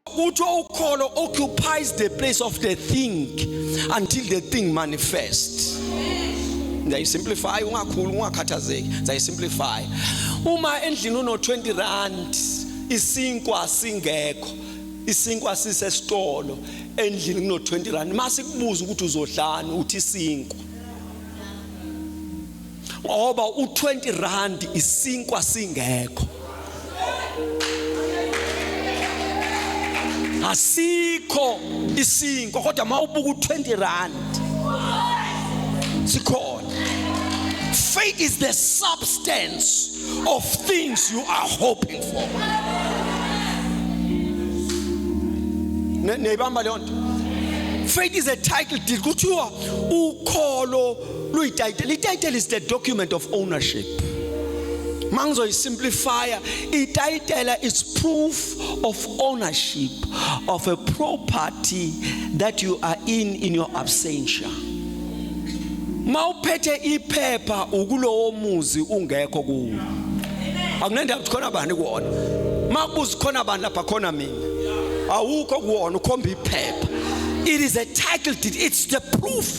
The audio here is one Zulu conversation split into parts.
kuthiwa ukholo occupies the place of the thing until the thing manifests ngiyayisimplify ungakhulu ungakhathazeki ngiyayisimplify uma endlini uno 20 rand isinkwa singekho isinkwa sisesitolo endlini kuno 20 rand mase kubuza ukuthi uzodlani uthi isinkwa ngoba u20 rand isinkwa singekho asikho isinkwa kodwa mawubuka u20 rand sikhona faith is the substance of things you are hoping for neyibamba leyo nto faith is a title deed kuthiwa ukholo luyitayitela itayitela is the document of ownership mangizoyisimplifya itayitela is proof of ownership of a property that you are in in your absentia mawuphethe iphepha ukulowo muzi ungekho kuwo akunendaba ukuthi khona bani kuwona makubuza khona bani lapha khona mina awukho kuwona ukhomba iphepha it is a title deed it's the proof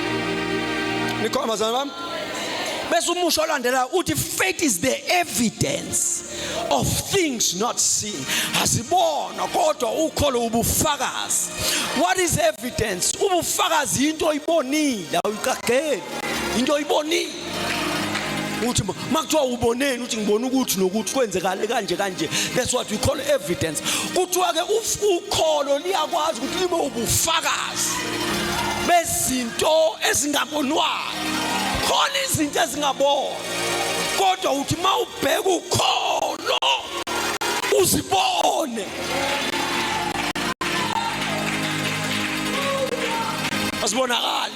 nikhona bazalwane bami bese umusho olandelayo uthi faith is the evidence of things not seen asibona kodwa ukholo ubufakazi what is evidence ubufakazi into oyibonile awuyiqageli into oyibonile uthi makuthiwa uboneni uthi ngibona ukuthi nokuthi kwenzekale kanje kanje that's what we call evidence kuthiwa ke ukholo liyakwazi ukuthi libe ubufakazi bezinto ezingabonwayo khona izinto ezingabonwa kodwa uthi mawubheka ukholo uzibone asibonakali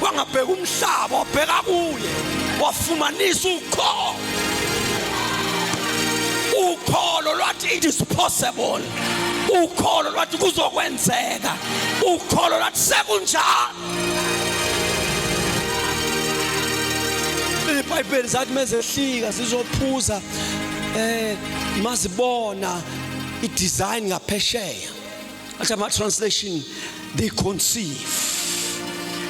wangabheka umhlaba wabheka kuye wafumanisa ukholo ukholo lwathi it is possible ukholo lwathi kuzokwenzeka ukholo lwathi sekunjalo ibhayibheli zathi mezehlika sizophuza eh mazibona idesign ngaphesheya athi ama translation they conceive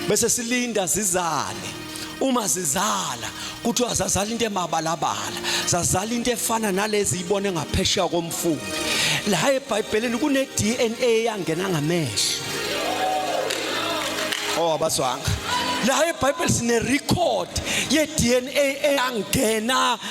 bese silinda zizale uma zizala kuthiwa zazala into emabalabala zazala into efana nalezi ibone ngaphesheya komfula la ebhayibhelini kune DNA yangena ngamehlo oh abazwanga la ebhayibhelini sine record ye DNA eyangena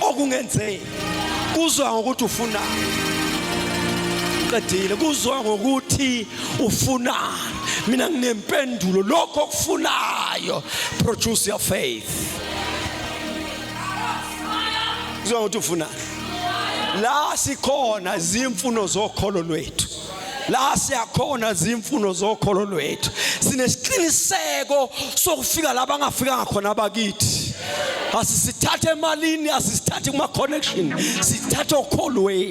okungenzeki kuzwa ngokuthi ufuna qedile kuzwa ngokuthi ufuna mina nginempendulo lokho okufunayo produce your faith kuzwa ngokuthi ufuna la sikhona zimfuno zokholo lwethu la siyakhona zimfuno zokholo lwethu sinesiqiniseko sokufika la bangafikanga khona abakithi asisithathe emalini asisithathe kuma-connection sithathe okholweni